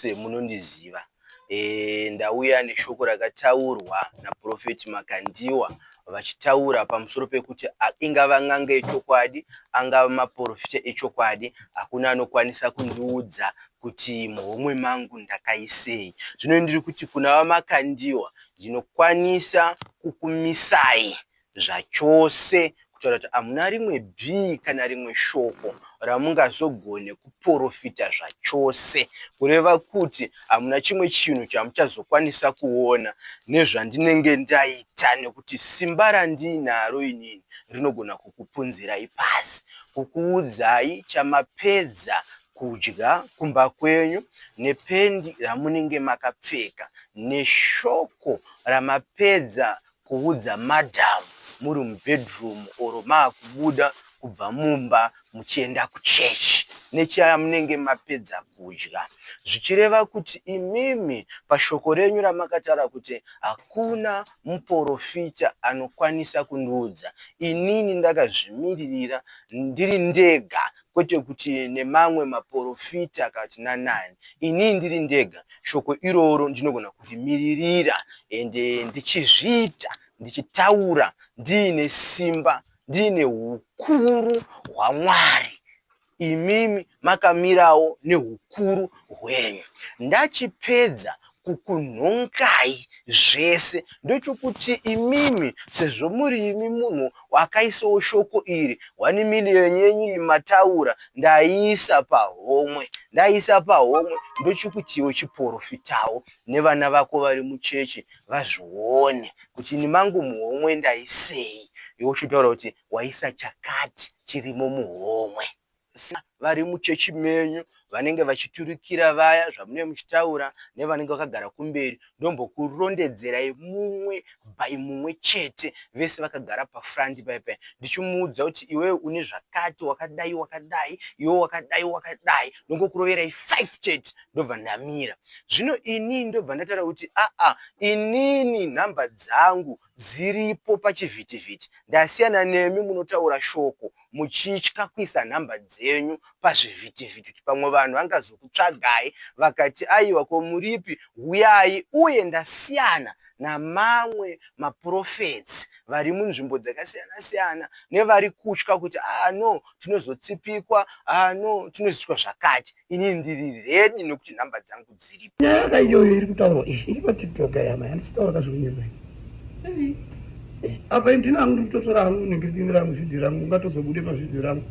semunondiziva e, ndauya neshoko rakataurwa naProfeti Makandiwa vachitaura pamusoro pekuti ingava n'anga yechokwadi angava maporofita echokwadi hakuna anokwanisa kundiudza kuti muhomwe mangu ndakaisei zvino ndiri kuti kuna vamakandiwa ndinokwanisa kukumisai zvachose kutaura kuti hamuna rimwe bhii kana rimwe shoko ramungazogone kuporofita zvachose, kureva kuti hamuna chimwe chinhu chamuchazokwanisa kuona nezvandinenge ndaita nekuti simba randiinaro inini rinogona kukupunzirai pasi, kukuudzai chamapedza kudya kumba kwenyu nependi ramunenge makapfeka neshoko ramapedza Kuudza madam muri mubedroom or makubuda kubva mumba muchienda kuchurch nechamunenge mapedza kudya. Zvichireva kuti imimi pashoko renyu ramakataura kuti hakuna muporofita anokwanisa kundiudza inini ndakazvimiririra ndiri ndega kwete kuti nemamwe maporofita kana kuti nanani. Ini ndiri ndega, shoko iroro ndinogona kurimiririra ende ndichizviita, ndichitaura ndiine simba, ndiine hukuru hwaMwari. Imimi makamirawo nehukuru hwenyu. Ndachipedza kukunhongai zvese ndochokuti imimi sezvo muri imi munhu wakaisawo shoko iri one million yenyu iyi mataura ndaiisa pahomwe ndaiisa pahomwe ndochokuti iwe chiporofitawo nevana vako vari muchechi vazvione kuti ini mangu muhomwe ndaisei iwe uchitaura kuti waisa chakati chirimo muhomwe vari muchechi menyu vanenge vachiturikira vaya zvamunenge muchitaura nevanenge vakagara kumberi ndombokurondedzerai mumwe by mumwe chete vese vakagara pafront paipai ndichimuudza kuti iwewe une zvakati wakadai wakadai iwe wakadai wakadai ndongokuroverai five chete ndobva ndamira zvino inini ndobva ndataura kuti aa inini nhamba dzangu dziripo pachivhitivhiti ndasiyana nemi munotaura shoko muchitya kuisa nhamba dzenyu pazvivhitivhiti kuti pamwe vanhu vangazokutsvagai vakati aiwa ko muripi huyai uye ndasiyana namamwe maprophets vari munzvimbo dzakasiyana siyana nevari kutya kuti ah no tinozotsipikwa ah no tinozoitwa zvakati ini ndiri redi nekuti nhamba dzangu dziripo nyaya ka iyoyo iri kutaurwa izvi iri patiktok yama yandisitaura ka zvikunyepa eh, apa ndina hangu ndiri kutotora hangu nenge ndini rangu vhidhio rangu ungatozobude pavhidhio rangu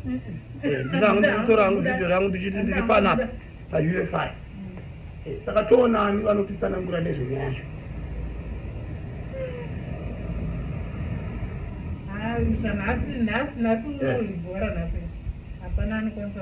eh, ndina hangu ndiri kutora hangu vhidhio rangu ndichiti ndiri panapa paufi eh, saka toonani vanotitsanangura nezvenyaya zvo nhasi nhasi nhasi unoibhora nhasi hapana anokwanisa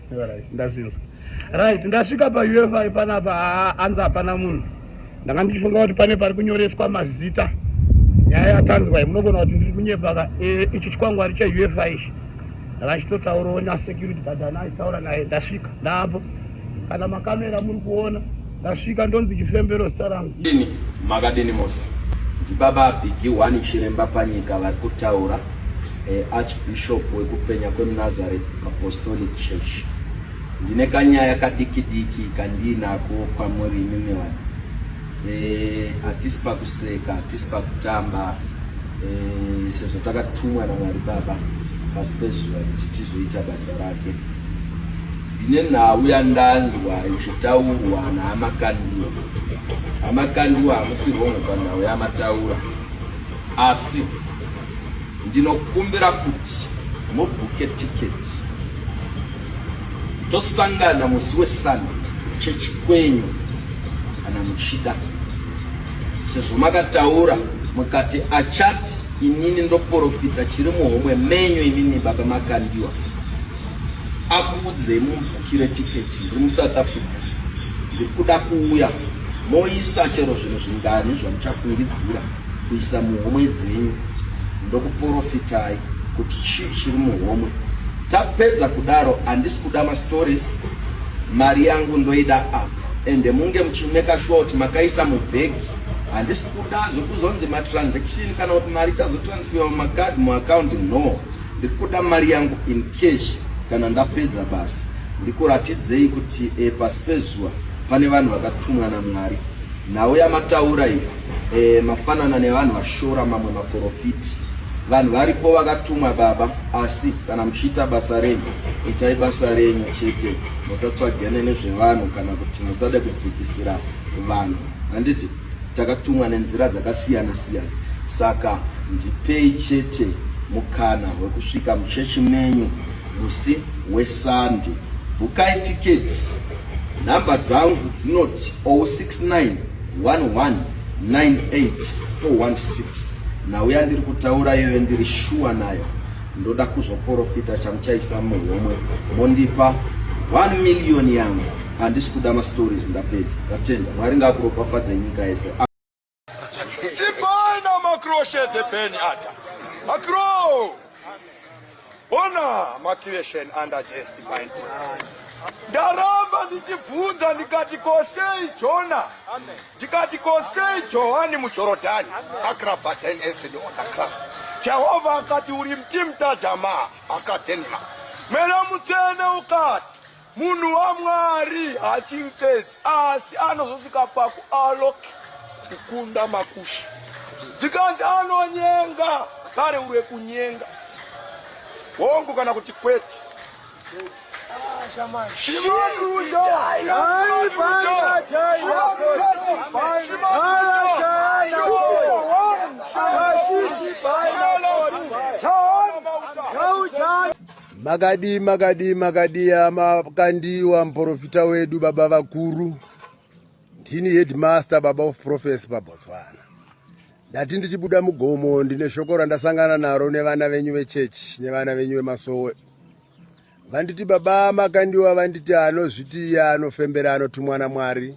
Alright, ndazvinzwa. Right, ndasvika pa UFI panapa anza hapana munhu. Ndanga ndichifunga kuti pane pari kunyoreswa mazita. Nyaya yatanzwa munogona kuti ndiri kunyepa ka e, ichi chikwangwari cha UFI ichi. Ndakachitotaurawo na security guard ana aitaura naye ndasvika. Ndaapo. Kana makamera muri kuona Ndasvika ndonzi chifembero zita rangu. Ini makadini mose. Ndibaba Bigi Wani Chiremba Panyika vari kutaura eh, Archbishop wekupenya kwemuNazareth Apostolic Church. Ndine kanyaya kadiki diki kandinako kwamuri imimi wani. Eh, atisi pakuseka, atisi pakutamba. Eh, sezvo takatumwa naMwari Baba pasi pezuva kuti tizoita basa rake. Ndine nhau yandanzwa ichitaurwa naamakandiwa. Amakandiwa hamusi hongu panhau yamataura, asi ndinokumbira kuti mubhuke tiketi tosangana musi wesande chechi kwenyu kana muchida, sezvo makataura mukati achati inini ndoporofita chiri muhomwe menyu imimi baba makandiwa akuudzei mubhukire tiketi ndiri musouth africa ndiri kuda kuuya moisa chero zvinhu zvingani zvamuchafungidzira kuisa muhomwe dzenyu ndokuprofitai kuti chii chiri muhomwe tapedza kudaro handisi kuda mastories mari yangu ndoida apo ende munge muchimeka shuwa kuti makaisa mubhegi handisi kuda zvekuzonzi matransaction kana kuti mari tazotransfera mumakadi muaccount no Ndikuda mari yangu in cash kana ndapedza basa. Ndikuratidzei kuti e, pasi pezuva pane vanhu vakatumwa naMwari. Nhau yamataura iyo e, mafanana nevanhu vashora mamwe maprofiti. Vanhu varipo vakatumwa baba, asi kana muchiita basa renyu itai basa renyu chete, musatsvagane nezvevanhu kana kuti musade kudzikisira vanhu. Handiti? Takatumwa nenzira dzakasiyana siyana, saka ndipei chete mukana wekusvika muchechi menyu musi weSande. Bukai tiketi. Nhamba dzangu dzinoti 069 11 98416 nauya ndiri kutaura iyoyo ndiri shuwa nayo. Ndoda kuzoporofita chamuchaisa muhomwe mondipa 1 million yangu handisi kuda mastories ndapedza ndatenda mwari ngakuropafadze nyika yese simbai namakroshethe beni ata makro ona macreation under just divine ndaramba ndichibvunza ndikati kosei jona Ndikati, Ko sei Johani muJorodhani akrabhaten ested on the cross? Jehovha akati, Uri mtimta jamaa akadenma. Mweya Mutsvene ukati, Munhu waMwari hachimpedzi, asi anozosvika pakualok kukunda makusha. Ndikanzi, Anonyenga, kare uri wekunyenga. Hongu kana kuti kwete. Makadi makadi makadi amakandiwa muprofita wedu baba vakuru ndini headmaster baba of prophecy pabotswana ndati ndichibuda mugomo ndine shoko randasangana naro nevana venyu vechechi nevana venyu vemasowe vanditi baba makandiwa vanditi anozviti iye anofembera anotumwa namwari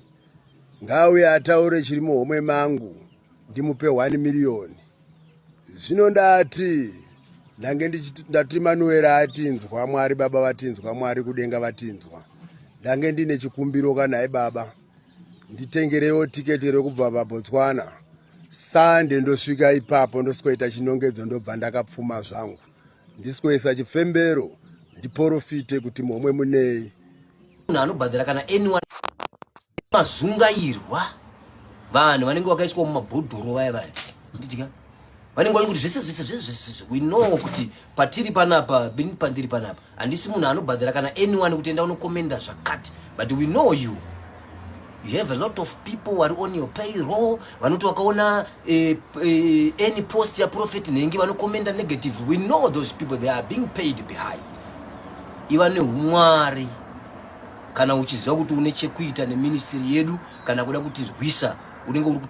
ngauye ataure chiri muhomwe mangu ndimupe 1 miriyoni zvino ndati ndange ndati manuera atinzwa mwari baba vatinzwa mwari kudenga vatinzwa ndange ndine chikumbiro kanhai baba nditengerewo tiketi rekubva pabotswana sande ndosvika ipapo ndosikoita chinongedzo ndobva ndakapfuma zvangu Ndiswesa chifembero ndiporofite kuti momwe munei. Munhu anobhadhara kana anyone mazungairwa vanhu vanenge vakaiswa mumabhodhoro vaya vaya ndidya vanenge vani kuti zvese zvese zvese zvese we know kuti patiri panapa bini pandiri panapa handisi munhu anobhadhara kana anyone kuti enda unokomenda zvakati but we know you You have a lot of people wari on your payroll vanoti wakaona eh, eh, any post ya prophet nhengi vanokomenda negative we know those people they are being paid behind iva neumwari kana uchiziva kuti une chekuita neministry yedu kana kuda kutirwisa unenge uri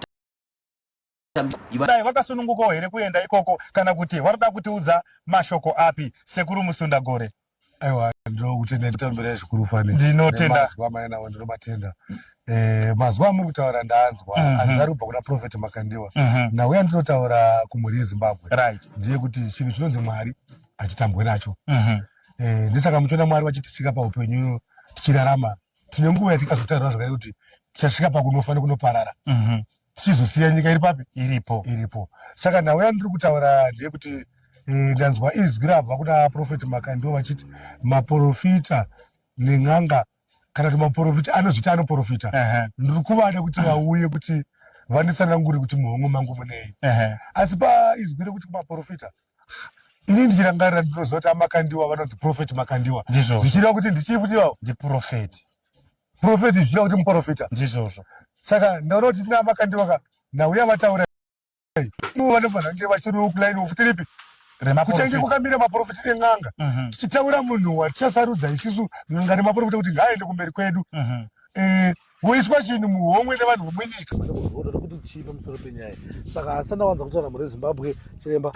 Dai vakasunungukawo here kuenda ikoko kana kuti varikuda kutiudza mashoko api sekuru musunda gore aiwa ndinokutenda nditambira zvikuru fani ndinotenda mazwa mainawo ndinomatenda Eh, mazuva amuri kutaura ndanzwa mm -hmm. ari kubva kuna profet makandiwa mm -hmm. nauya ndinotaura kumhuri yezimbabwe right. ndiye kuti chinhu chinonzi mwari hatitambwe nacho mm -hmm. eh, ndisaka muchiona mwari vachitisika paupenyu tichirarama tine nguva yatikazotaurirwa zvakare kuti tichasvika pakunofa nekunoparara mm -hmm. tichizosiya nyika iri papi iripo iripo saka nhau yandiri kutaura ndeyekuti eh, ndanzwa izwi rabva kuna profeti makai ndo vachiti maprofita nen'anga kana kuti maprofita anozvita anoprofita ndiri kuvada kuti vauye kuti vandisanangure kuti muhongo mangu munei asi paizwi rekuti kumaprofita ini ndichirangarira ndinoziva kuti amakandiwa vanonzi profeti makandiwa zvichireva kuti ndichii futi ivavo ndiprofeti Profeti zviya kuti muprofita. Ndizvozvo. Saka ndaona kuti tina makandiwa ka ndauya vataura. Ivo vanofanira kunge vachiri ukulaini of tiripi. Kuchange kukamira maprofeti nen'anga. Mhm. Tichitaura munhu watichasarudza isisu n'anga nemaprofeti kuti ngaaende kumberi kwedu. Mhm. Eh, woiswa chinhu muhomwe nevanhu vomwenyika. Kuti chii pamusoro penyaya. Saka asana wanza kutaura mhuri Zimbabwe chiremba.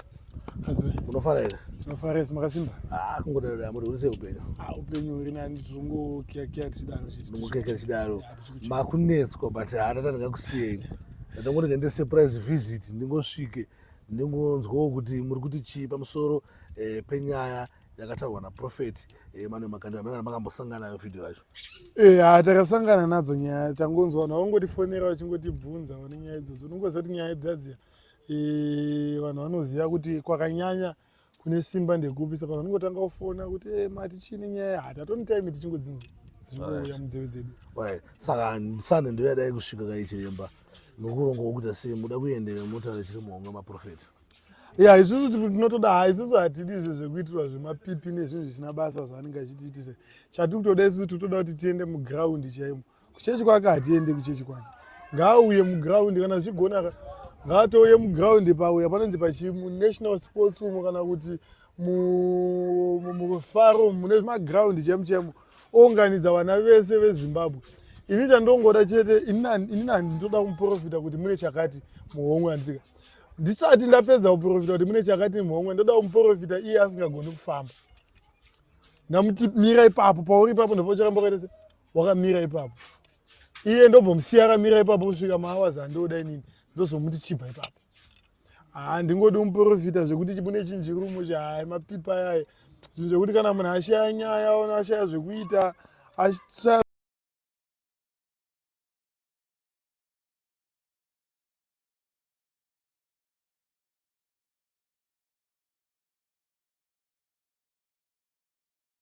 Hazwe. Unofara here? Tinofara yes makasimba. Ah, kungodaro da muri urise upenyu. Ah, upenyu uri nani tungo kia kia tichidaro chiti. Tungo kia kia tichidaro. Makunetswa but hatata ndingakusiyei. Ndatongoda kuenda surprise visit ndingosvike ndingonzwawo kuti muri kuti chii pamusoro eh, penyaya yakataurwa naprofet eh, mane makandi amene makambosangana nayo vhidhiyo racho eh, ha takasangana nadzo nyaya tangonzwa nawo ngotifonera wachingotibvunza one nyaya idzodzo unongozoti nyaya idzadziya e, vanhu vanoziva kuti kwakanyanya kune simba ndekupi saka vanhu vanongotanga kufona kuti e, mati chini nyaya hati hatoni time tichingodzinzwa zvinouya munzeve dzedu saka ndisane ndoyadai kusvika kaichiremba nokuronga wokuita sei muda kuendera motare chiri muhonga maprofeta ya isusu tinotoda ha isusu hatidi izvo zvekuitirwa zvemapipi nezvinhu zvisina basa zvaanenge achitiitisa chatiri kutoda isusu tiri kutoda kuti tiende mugraundi chaimo kuchechi kwake hatiende kuchechi kwake ngaauye muground kana zvichigona ngaatouye muground pauya panonzi pachimunational sports umo kana kuti mufaro mune maground chemu chemu ounganidza vana vese vezimbabwe ini chandongoda chete ini nani ndinoda kumuprofita kuti mune chakati muhomwe andika ndisati ndapedza kuprofita kuti mune chakati muhomwe ndoda kumuprofita iye asingagoni kufamba ndamuti mira ipapo pauri ipapo ndopocharamba kaita se wakamira ipapo iye ndobhomusiya akamira ipapo kusvika maawazi andoda inini ndozomuti chibva ipapo haa ndingodi umuprofita zvekuti chibune chinjirumo chahai mapipa ayaye zvinhu zvekuti kana munhu ashaya nyaya ona ashaya zvekuita ashaya